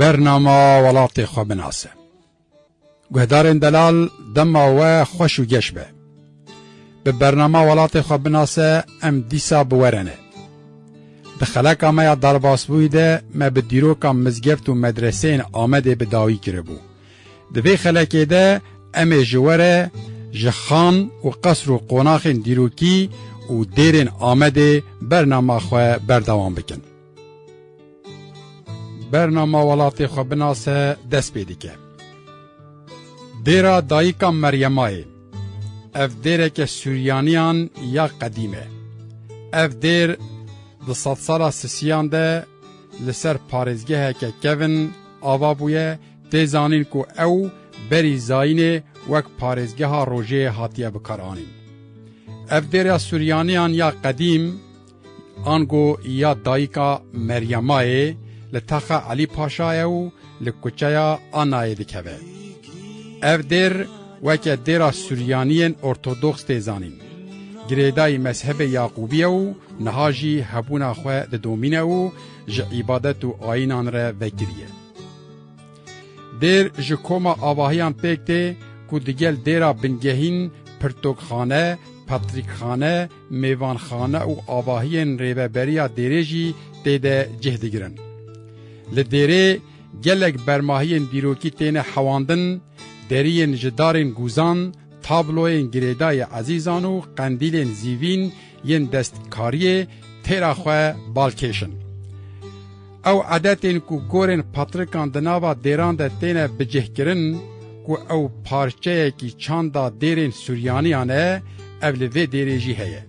Bernama welatê xwe binase. Guhdarên delal dema we xweş û geş be. Bi bernama welatê xwe binase em dîsa bi we re ne. Di xeleka me ya derbasbûyî de me bi dîroka mizgeft û medreseyên Amedê bi dawî kiribû. Di vê xelekê de em ê ji we re ji xan û qesr û qonaxên dîrokî û dêrên Amedê bernama xwe berdewam bikin. Bernama welatê xwe binase dest pê dike. Dêra Dayika Meryemayê ev dêreke Sûryaniyan ya qedîm e. Ev dêr di sedsala sisiyan de li ser parêzgeheke kevin ava bûye Tê zanîn ku ew berî Zayînê wek parêzgeha rojê hatiye bikaranîn. Ev dêra Suryaniyan ya qedîm ango ya dayika Meryamayê li taxa Elî Paşa ye û li kuçeya Anayê dikeve. Ev dêr weke dêra Suryaniyên Ortodoks tê zanîn. Girêdayî mezhebê Yaqûbî ye û niha jî hebûna xwe didomîne û ji îbadet û ayînan re vekirî ye. Dêr ji koma avahiyan pêk tê ku digel dêra bingehîn, pirtokxane, patrîkxane, mêvanxane û avahiyên rêveberiya dêrê jî tê de cih digirin. Li dêrê gelek bermahiyên dîrokî têne hewandin, deriyên ji darên gûzan, tabloyên girêdayî ezîzan û qendîlên zîvîn yên destkariyê têra xwe bal kêşin. Ew edetên ku gorên patrikan di nava dêran de têne bicihkirin ku ew parçeyekî çanda dêrên Suryaniyan e, ev li vê dêrê jî heye.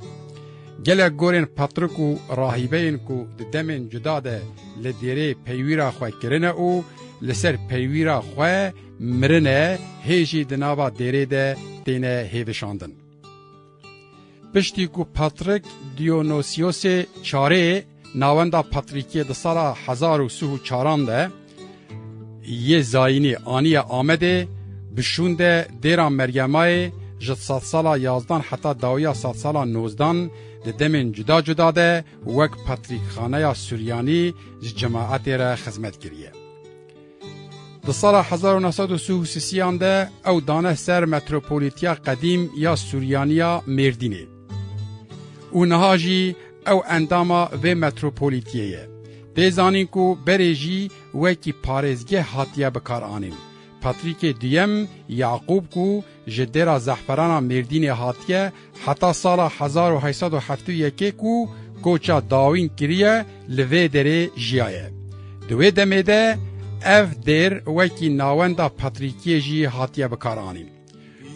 Gelek gorên patrik û rahîbeyên ku di demên cuda de li dêrê peywîra xwe kirine û li ser peywîra xwe mirine hê jî di nava dêrê de têne hêvişandin. Piştî ku Patrik Diyonosiosê Çarê navenda patrîkiyê di sala hezar û sih û çaran de yê Zayînî aniye Amedê, bi şûn de dêra Meryemayê ji sadsala yazdan heta dawiya sadsala nozdan di demên cuda cuda de wek patrîkxaneya Suryanî ji cemaetê re xizmet kiriye. Di sala hezar û neh sed û sih û sisiyan de ew dane ser metropolitiya qedîm ya Suryaniya Mêrdînê û niha jî ew endama vê metropolitiyê ye. Tê zanîn ku berê jî wekî parêzgeh hatiye bikaranîn. Patrîkê Duyem Yaqûb ku Ji Dêra Zehferana Mêrdînê hatiye heta sala hezar û heşt sed û heftê û yekê ku koça dawîn kiriye li vê derê jiyaye. Di wê demê de ev dêr wekî nawenda Patrîkiyê jî hatiye bikaranîn.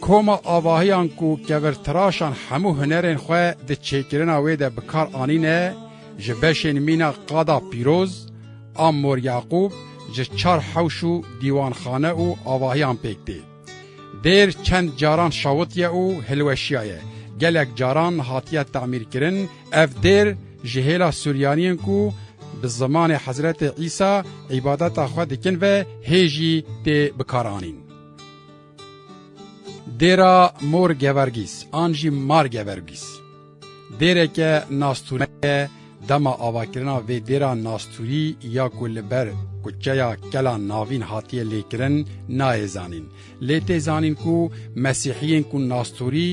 Koma avahiyan ku kevirtiraşan hemû hunerên xwe di çêkirina wê de bikar anîne ji beşên mîna Qada Pîroz a Mor Yaqûb ji çar hewş û dîwanxane û avahiyan pêk tê. Dêr çend caran şawitiye û hilweşiyaye. Gelek caran hatiye tamîrkirin. Ev dêr ji hêla Suryaniyên ku bi zimanê Hezretê Îsa îbadeta xwe dikin ve hê jî tê bikaranîn. Dêra Mor Gevergîs an jî Mar Gevergîs. Dêreke nastûreke dema avakirina vê dêra nastûrî ya ku li ber kuçeya Kela Navîn hatiye lêkirin nayê zanîn. Lê tê zanîn ku mesîhiyên ku nastûrî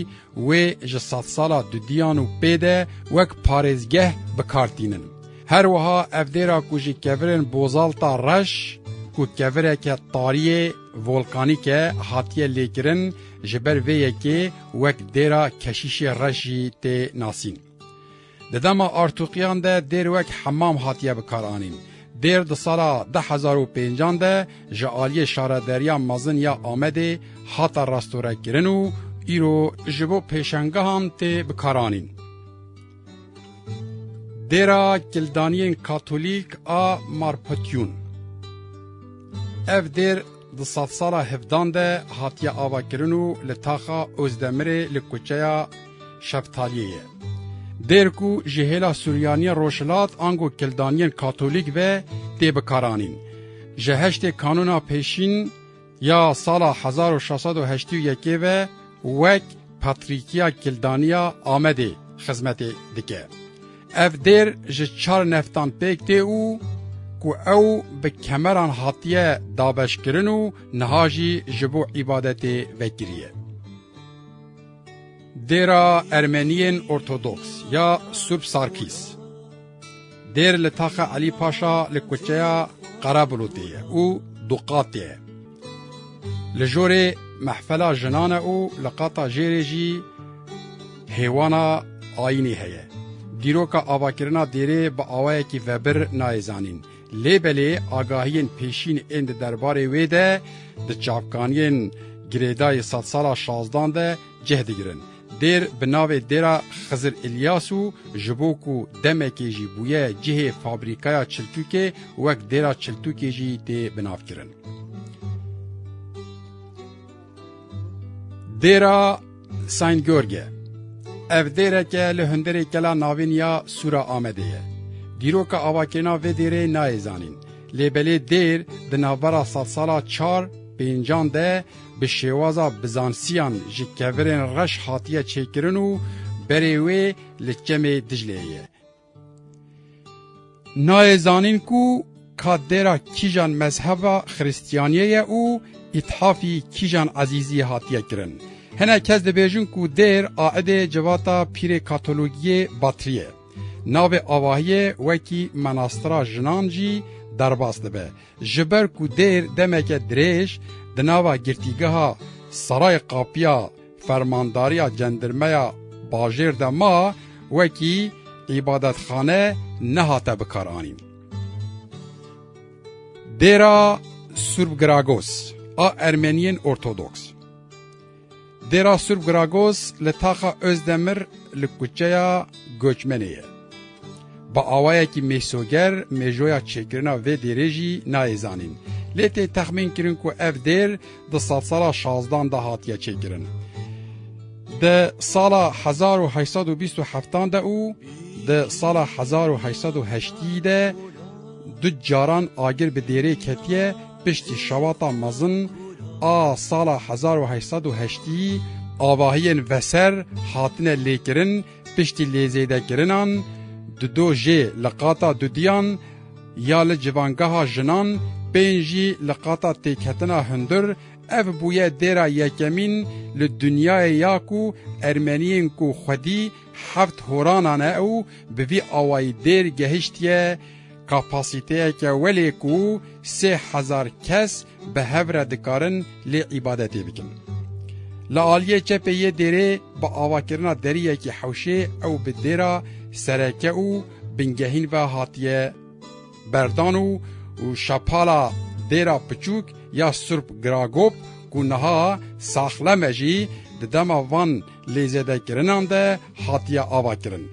wê ji sedsala dudiyan û pê de wek parêzgeh bi kar tînin. Her wiha ev dêra ku ji kevirên Bozalta Reş ku kevireke tariyê Volkanîke hatiye lêkirin ji ber vê yekê wek dêra keşîşê reş jî tê nasîn. Di dema artûqiyan de dêr wek hemam hatiye bikaranîn. Dêr di sala du hezar û pêncan de ji aliyê Şarederiya Mezin ya Amedê hate restorekirin û îro ji bo pêşangehan tê bikaranîn. Dêra Kildaniyên Katolîk a Marpotyûn Ev dêr di sedsala hevdan de hatiye avakirin û li taxa Ozdemirê li kuçeya Şeftaliyê ye. Dêr ku ji hêla Suryaniyên Rojhilat ango Kildaniyên Katolîk ve tê bikaranîn. Ji heştê kanûna pêşîn Ya sala hezar û şeş sed û heştî û yekê ve wek Patrîkiya Kildaniya Amedê xizmetê dike. Ev dêr ji çar neftan pêk tê û ku ew bi kemeran hatiye dabeşkirin û niha jî ji bo îbadetê vekiriye. Dêra Ermeniyên Ortodoks ya Subsarkîs. Dêr li Taxa Elî Paşa li kuçeya Qerebulûtê ye û du qat ye. Li jorê mehfela jinan e û li qata jêrê jî hêwana ayînê heye. Dîroka avakirina dêrê bi awayekî vebir nayê zanîn. Lê belê agahiyên pêşîn ên di derbarê wê de di çavkaniyên girêdayî sedsala şazdan de cih digirin. Dêr bi navê Dêra Xizir Îlyas û ji bo ku demekê jî bûye cihê fabrîkaya çiltûkê wek Dêra Çiltûkê jî tê binavkirin. Dêra Saint George Ev dêreke li hundirê kela navîn ya Sûra Amedê ye. Dîroka avakirina vê dêrê nayê zanîn. Lê belê dêr di navbera sedsala çar pêncan de Bi şêwaza Bizansiyan ji kevirên reş hatiye çêkirin û berê wê li Çemê Dicleyê ye. Nayê zanîn ku ka dêra kîjan mezheba Xiristiyaniyê ye û îthafî kîjan ezîzî hatiye kirin. Hinek kes dibêjin ku dêr aidê civata Pîrê Katologiyê Batrî ye. Navê avahiyê wekî Menastira Jinan jî derbas dibe. Ji ber ku dêr demeke dirêj di nava girtîgeha Seray Qapiya Fermandariya Cendirmeya Bajêr de ma, wekî îbadetxane nehate bikaranîn. Dêra Surb Gragos a Ermeniyên Ortodoks. Dêra Sûrb Gragos li taxa Ozdemir li kuçeya Goçmenê ye. Bi awayekî mêsoger mêjoya çêkirina vê dêrê jî nayê zanîn. Lê tê texmîn kirin ku ev dêr di sedsala şazdan de hatiye çêkirin. Di sala 1827 de û di sala 1808 de du caran agir bi dêrê ketiye Piştî şewata mezin a sala hezar û heşt sed û heştî, avahiyên veser hatine lêkirin piştî lêzêdekirinan di do jê li qata dudiyan ya li civangeha jinan bên jî li qata têketina hundir ev bûye dêra yekemîn li dinyayê ya ku Ermeniyên ku xwedî heft horanan e û bi vî awayî dêr gehiştiye Kapasîteyeke welê ku sê hezar kes bi hev re dikarin lê îbadetê bikin. Li aliyê çepê yê dêrê bi avakirina deriyekî hewşê ew bi dêra sereke û bingehîn ve hatiye berdan û û şapala dêra piçûk ya Surp Gragop ku niha Saxlem e jî di dema van lêzêdekirinan de hatiye avakirin.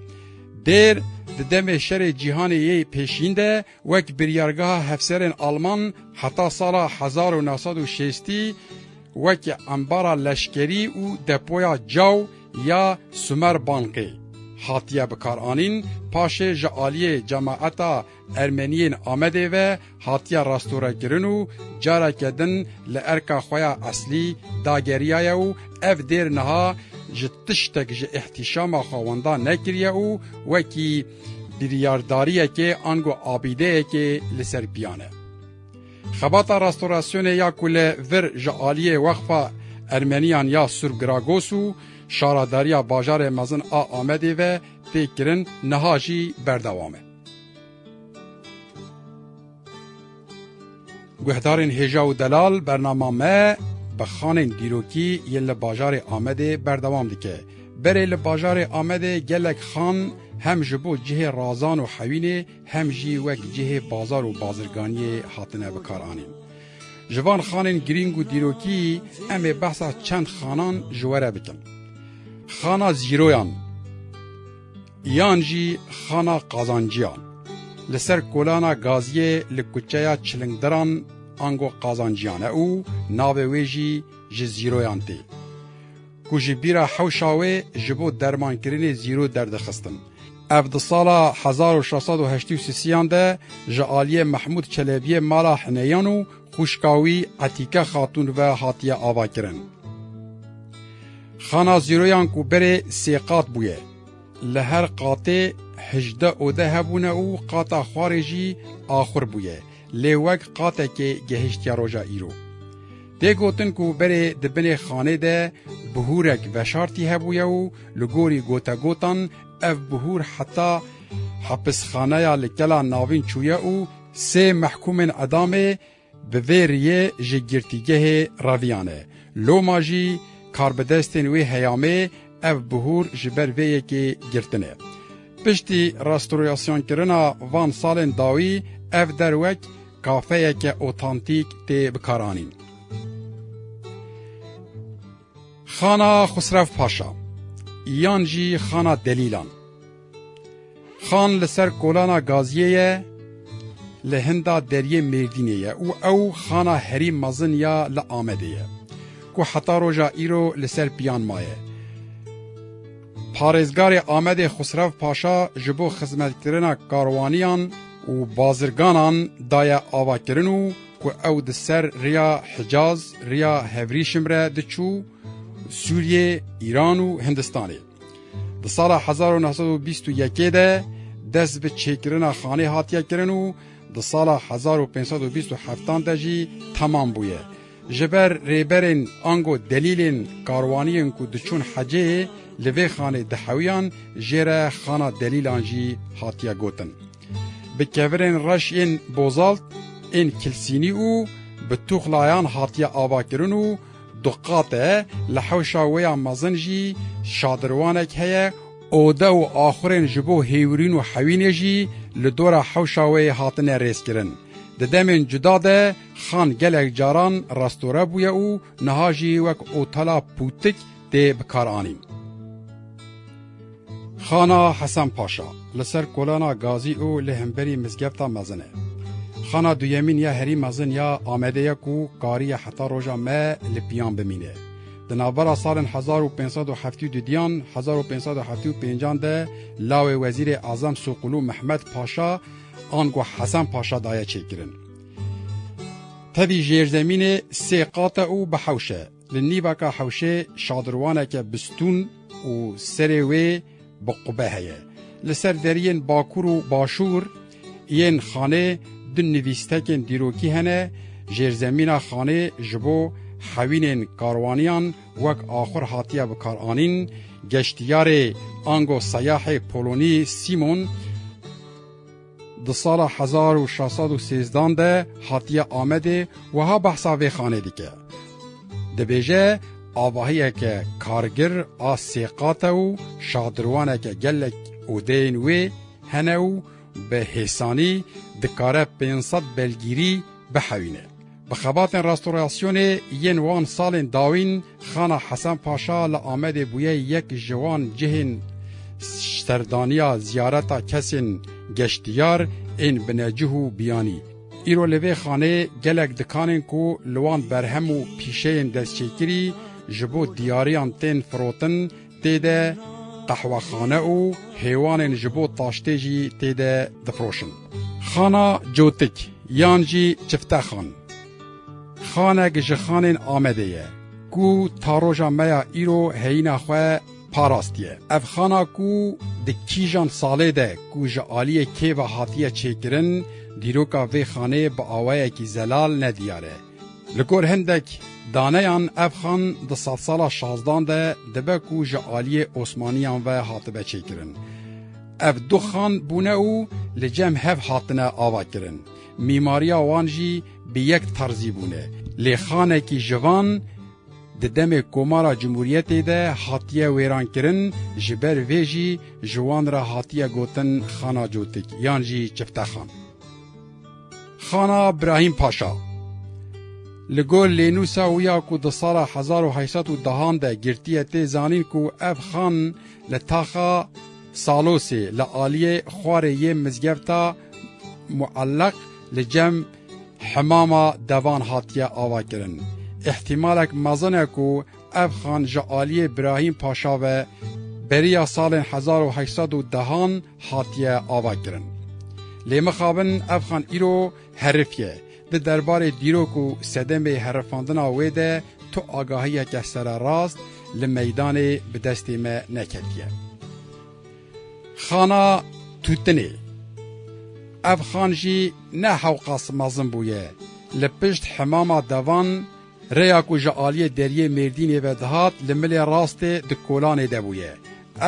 Dêr, di demê Şerê Cîhanê yê Pêşîn de wek biryargeha hefserên Alman heta sala hezar û neh sed û şêstî wekî embara leşkerî û depoya caw ya Sumerbanqê hatiye bikaranîn, paşê ji aliyê cemaeta Ermeniyên Amedê ve hatiye rastorekirin û careke din li erka xwe ya eslî dageriyaye û ev dêr niha ji tiştek ji îhtîşama xwe wenda nekiriye û wekî biryardariyekê ango abîdeyekê li ser piyan e. Xebata rastorasyonê ya ku li vir ji aliyê Weqfa Ermeniyan ya Surb Gragos û Şaradariya Bajarê Mezin a Amedê ve tê kirin niha jî berdewam e. Guhdarên Hêja û Delal bernama me bi xanên dîrokî yên li bajarê Amedê berdewam dike. Berê li bajarê Amedê gelek xan hem ji bo cihê razan û hewînê hem jî wek cihê bazar û bazirganiyê hatine bikaranîn. Ji van xanên girîng û dîrokî em ê behsa çend xanan ji we re bikin. Xana Zîroyan. Yan jî xana qazanciyan li ser kolana gaziyê li kuçeya çilingdiran ango qazanciyan e û navê wê jî ji zîroyan tê ku ji bîra hewşa wê ji bo dermankirinê zîro derdixistin. Ev di sala hezar û şeş sed û heştê û sisiyan de ji aliyê Mehmûd Çelebiyê mala Hineyan û xwişka wî Etîke Xatûn ve hatiye avakirin. Xana zîroyan ku berê sê qat bûye. Li her qatê hejdeh ode hebûne û qata xwarê jî axur bûye, lê wek qatekê gehiştiye roja îro. Tê gotin ku berê di binê xanê de bihûrek veşartî hebûye û li gorî gotegotan ev bihûr heta hepisxaneya li Kela Navîn çûye û sê mehkûmên edamê Bi vê riyê ji girtîgehê reviyane. Loma jî karbidestên wê heyamê ev bihûr ji ber vê yekê girtine. Piştî restaureasyonkirinaa van salên dawî ev der wek kafeyeke otantîk tê bikaranîn. Xana Xusrev Paşa yan jî Xana Delîlan Xan li ser kolana Gaziyê ye li hinda deriyê Mêrdînê ye û ew xana herî mezin ya li Amedê ye ku heta roja îro li ser piyan maye. Parêzgarê Amedê Xusrev Paşa ji bo xizmetkirina karwaniyan û bazirganan daye avakirin û Ku ew di ser rêya Hicaz, rêya Hevrîşim re diçû Sûriyê, Îran û Hindistanê. Di sala hezar û neh sed û bîst û yekê de dest bi çêkirina xanê hatiye kirin û di sala hezar û pênc sed û bîst û heftan de jî temam bûye. Ji ber rêberên ango delîlên karwaniyên ku diçûn hecê li vê xanê dihewiyan jê re xana delîlan jî hatiye gotin. Bi kevirên reş yên bozalt ên kilsînî û bi tuxlayan hatiye avakirin û du qat e, li hewşa wê ya mezin jî şadirwanek heye, ode û axurên ji bo hêwirîn û hewînê jî li dora hewşa wê hatine rêzkirin. Di demên cuda de xan gelek caran restore bûye û niha jî wek otela pûtik, tê bikaranîn. Xana Hesen Paşa li ser kolana Gazî û li hemberî mizgefta mezin e. Xana duyemîn ya herî mezin ya Amedê ye ku kariye heta roja me li piyan bimîne. Di navbera salên hezar û pênc sed û heftî û dudiyan hezar û pênc sed û heftî û pêncan de lawê Wezîrê Ezem Soqulu Mehmed Paşa ango Hesen Paşa daye çêkirin. Tevî jêrzemînê sê qat e û bi hewş e. Li nîvaka hewşê şadirwaneke bistûn û serê wê bi qube heye. Li ser deriyên bakur û başûr yên xanê du nivîstekên dîrokî hene, jêrzemîna xanê ji bo hewînên karwaniyan wek axur hatiye bikaranîn, geştiyarê ango seyahê Polonî Sîmon, Di sala hezar û şeş sed û sêzdan de hatiye Amedê wiha behsa vê xanê dike, dibêje, Avahiyeke kargir a sê qat e û şadirwaneke gelek odeyên wê hene û bi hêsanî dikare pênc sed belgîrî bihewîne. Bi xebatên restorasyonê yên wan salên dawîn Xana Hesen Paşa li Amedê bûye yek ji wan cihên serdaniya ziyareta kesên geştiyar ên binecih û biyanî. Îro li vê xaneyê gelek dikanên ku li wan berhem û pîşeyên destçêkirî ji bo diyariyan tên firotin, Tê de qehwexane û hêwanên ji bo taştê jî tê de difiroşin. Xana Cotik yan jî Çiftexan, xanek ji xanên Amedê ye ku ta roja me ya îro heyîna xwe parastiye. Ev xana ku di kîjan salê de ku ji aliyê kê ve hatiye çêkirin, dîroka vê xanê bi awayekî zelal ne diyar e. Li gor hindek daneyan ev xan di sedsala şazdan de dibe ku ji aliyê Osmaniyan ve hatibe çêkirin. Ev du xan bûne û li cem hev hatine avakirin. Mîmariya wan jî bi yek terzî bûne. Lê xanekî ji van di demê Komara Cumhuriyetê de hatiye wêrankirin, ji ber vê jî ji wan re hatiye gotin Xana Cotik yan jî Çiftexan. Xana Brahîm Paşa Li gor lênûsa wî ya ku di sala hezar û heşt sed û dehan de girtiye tê zanîn ku ev xan li taxa Salosê li aliyê xwarê yê mizgefta Muelleq li cem hemama devan hatiye avakirin. Îhtîmalek mezin e ku ev xan ji aliyê Brahîm Paşa ve beriya salên hezar û heşt sed û dehan hatiye avakirin. Lê mixabin ev xan îro herif ye. Di derbarê dîrok û sedemê herifandina wê de tu agahiyeke sererast li meydanê bi destê me neketiye. Xana Tûtinê Ev xan jî ne hewqas mezin bûye. Li pişt hemama devan Rêya ku ji aliyê deriyê Mêrdînê ve dihat li milê rastê di Kolanê de bûye.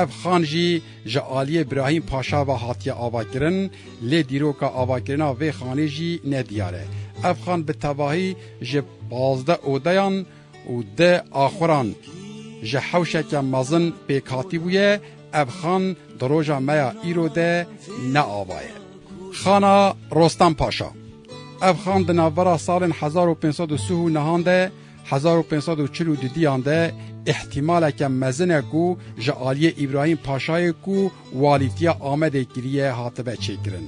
Ev xan jî ji aliyê Birahîm Paşa ve hatiye avakirin lê dîroka avakirina vê xanê jî ne diyar e. Ev xan bi tevahî ji pazdeh odeyan û deh axuran ji hewşeke mezin pêk hatî bûye, ev xan di roja me ya îro de ne ava ye. Xana Rostem Paşa. Ev xan di navbera salên hezar û pênc sed û sih û nihan de, hezar û pênc sed û çil û du diyan de îhtîmaleke mezin e ku ji aliyê Îbrahîm Paşayê ku walîtiya Amedê kiriye hatibe çêkirin.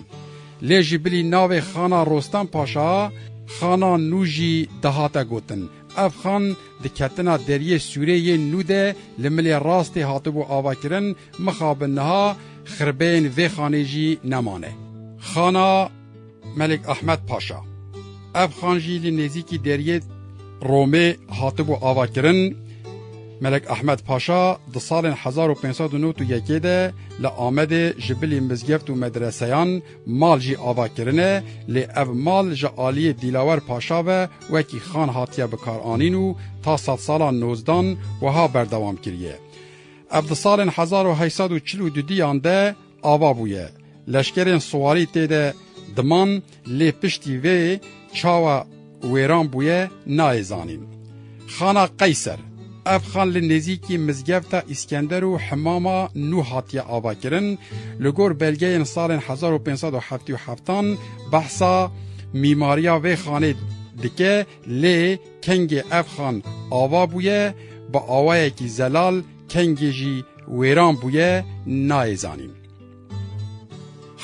Lê ji bilî navê Xana Rostem Paşa, Xana Nû jî dihate gotin. Ev xan di ketina Deriyê Sûrê yê nû de li milê rastê hatibû avakirin, mixabin niha xirbeyên vê xanê jî nemane. Xana. Melik Ahmed Paşa. Ev xan jî li nêzîkî deriyê Romê hatibû avakirin. Melek Ahmed Paşa di salên hezar û pênc sed û newt û yekê de li Amedê ji bilî mizgeft û medreseyan mal jî ava kirine lê ev mal ji aliyê Dîlawer Paşa ve wekî xan hatiye bikaranîn û ta sedsala nozdan wiha berdewam kiriye. Ev di salên hezar û heşt sed û çil û du diyan de Ava bûye. Leşkerên siwarî tê de diman lê piştî vê çawa wêran bûye nayê zanîn. Xana Qeyser, Ev xan li nêzîkî mizgefta Îskender û himama nû hatiye avakirin, li gor belgeyên salên hezar û pênc sed û heftê û heftan behsa mîmariya vê xanê dike lê kengê ev xan ava bûye bi awayekî zelal kengê jî Wêran bûye nayê zanîn.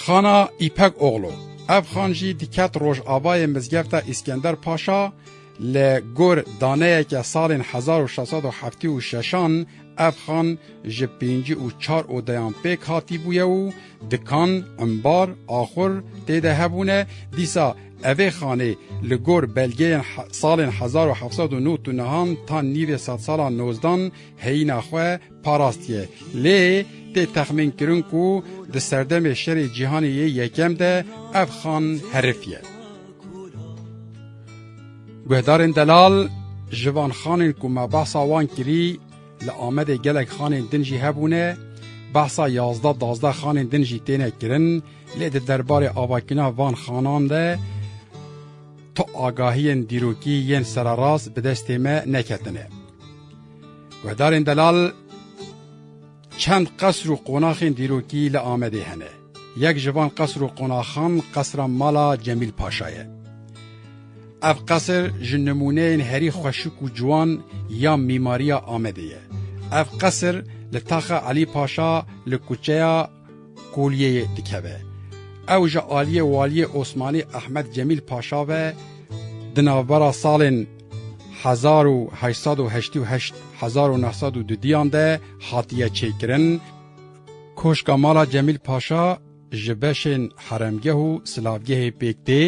Xana Îpek Oglu, ev xan jî diket rojavayê mizgefta Îskender Paşa, li gor daneyeke salên hezar û şeş sed û heftê û şeşan ev xan ji pêncî û çar odeyan pêk hatîbûye û dikan, embar, axur tê de hebûne, dîsa evê xanê li gor belgeyên salên hezar û heft sed û nod û nihan ta nîvê sedsalan nozdan Heyîna xwe parastiye. Lê tê texmînkirin ku di serdemê Şerê Cîhanê yê Yekem de ev xan herif ye. Guhdarên delal ji van xanên ku me behsa wan kirî li Amedê gelek xanên din jî hebûne, behsa yazdeh dazdeh xanên din jî têne kirin lê di derbarê avakîna van xanan de tu agahiyên dîrokî yên sererast bi destê me neketine. Guhdarên delal çend qesr û qonaxên dîrokî li Amedê hene. Yek ji van qesr û qonaxan qesra mala Cemîl Paşa ye. Ev qesr ji nimûneyên herî xweşik û ciwan ya mîmariya Amedê ye. Ev qesr li taxa Elî Paşa li kuçeya Koliyeyê dikeve. Ew ji aliyê Waliyê Osmanî Ehmed Cemîl Paşa ve di navbera salên hezar û heşt sed û heştî û heşt hezar û neh sed û du diyan de hatiye çêkirin. Koşka mala Cemîl Paşa ji beşên heremgeh û silavgehê pêk tê.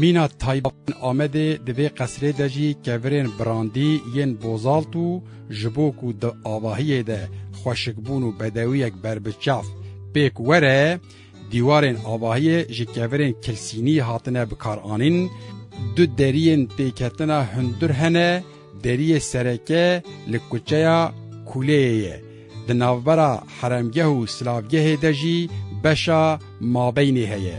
Mîna taybet ên Amedê di vê qesrê de jî kevirên brandî yên bozalt û ji bo ku di avahiyê de xweşikbûn û bedewiyek ber bi çav pêk were, dîwarên avahiyê ji kevirên kilsînî hatine bikaranîn, du deriyên pêketina hundir hene Deriyê sereke li kuçeya Kûleyê ye. Di navbera heremgeh û silavgehê de jî beşa mabeynê heye.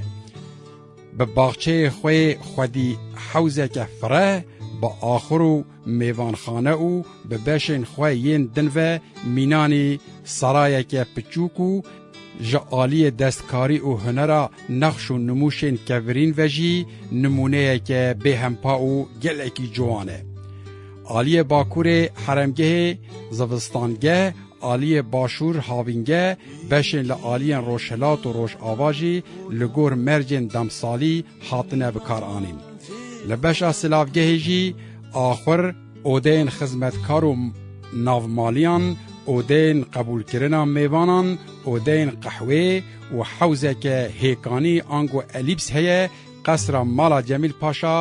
Bi baxçeyê xwe yê xwedî hewzeke fireh, bi axur û mêvanxane û bi beşên xwe yên din ve mînanî serayeke piçûk û Ji aliyê destkarî û hunera nexş û nimûşên kevirîn ve jî nimûneyeke bêhempa û gelekî ciwan e. Aliyê Bakurê heremgehê, zivistangeh, aliyê Başûr havîngeh, beşên li aliyên Rojhilat û Rojava jî li gor mercên demsalî hatine bikaranîn. Li beşa silavgehê jî axur, Odeyên xizmetkar û navmaliyan, odeyên qebûlkirina mêvanan, odeyên qehwê û hewzeke hêkanî ango elîps heye, qesra mala Cemîl Paşa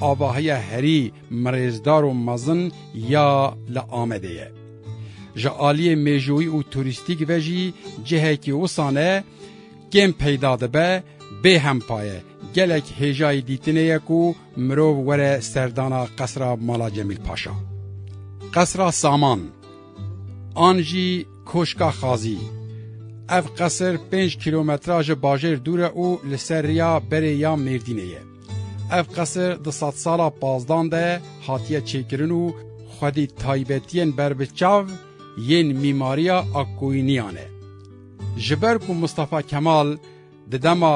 avahiya herî mirêzdar û mezin ya li Amedê ye. Ji aliyê mêjoyî û turîstîk ve jî cihekî wisa ne kêm peyda dibe, bêhempa ye, gelek hêjayî dîtinê ye ku Mirov were serdana qesra mala Cemîl Paşa, qesra saman an jî koşka xazî. Ev qesir pênc kîlometra ji bajêr dûr e û li ser riya berê ya Mêrdînê ye. Ev qesir di sedsala pazdan de hatiye çêkirin û xwedî taybetiyên berbiçav yên mîmariya Akkoyuniyan e. Ji ber ku Mistefa Kemal di dema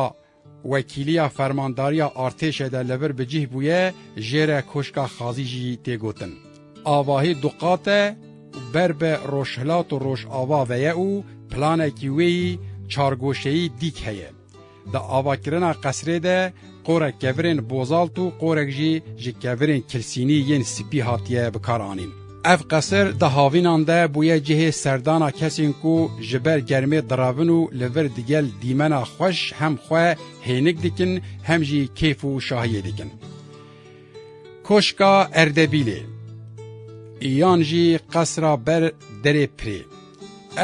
Wekîliya Fermandariya Artêşê de li vir bi cih bûye, jê re Koşka Xazî jî tê gotin. Avahî duqat e û ber bi rojhilat û rojava ve ye û planekî wê yî çargoşeyî dîk heye. Di avakirina qesrê de qorek kevirên bozalt û qorek jî ji kevirên kilsînî yên spî hatiye bikaranîn. Ev qesir di havînan de bûye cihê serdana kesên ku ji ber germê direvin û li vir digel dîmena xweş hem xwe hênik dikin hem jî kêf û şahiyê dikin. Koşka Erdebîlê yan jî qesra ber derê pirê.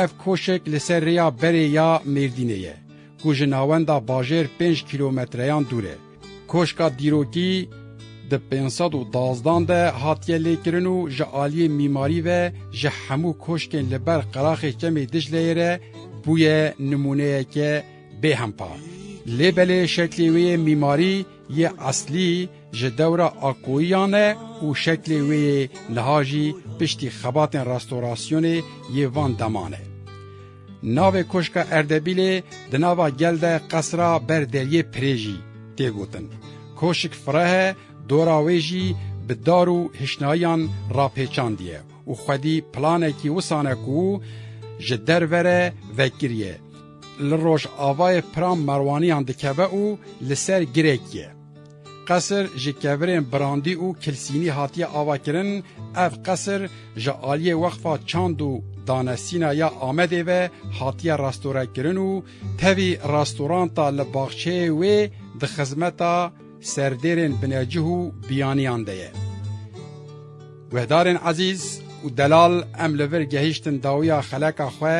Ev koşek li ser rêya berê ya Mêrdînê ye ku ji navenda bajêr pênc kîlometreyan dûr e. Koşka dîrokî di pênc sed û dazdan de hatiye lêkirin û ji aliyê mîmarî ve ji hemû koşkên li ber qeraxê Çemê Dicleyê re bûye nimûneyeke bê hempa. Lê belê şeklê wê yê mîmarî yê eslî ji dewra Akoyiyan e û şeklê wê yê niha jî piştî xebatên restorasyonê yê van deman e. Navê Koşka Erdebîlê di nava gel de qesra ber deriyê pirê jî tê gotin. Koşik fireh e, dora wê jî bi dar û hişnayiyan rapêçandiye û xwedî planekî wisan e ku ji derve re vekiriye. Li rojavayê piran merwaniyan dikeve û li ser girek ye. Qesir ji kevirên brandî û kilsînî hatiye avakirin, ev qesir ji aliyê Weqfa Çand û Danesîna ya Amedê ve hatiye restorekirin û tevî restoranta li baxçeyê wê di xizmeta serdêrên binecih û biyaniyan de ye. Guhdarên ezîz û delal em li vir gehîştin dawiya xeleka xwe,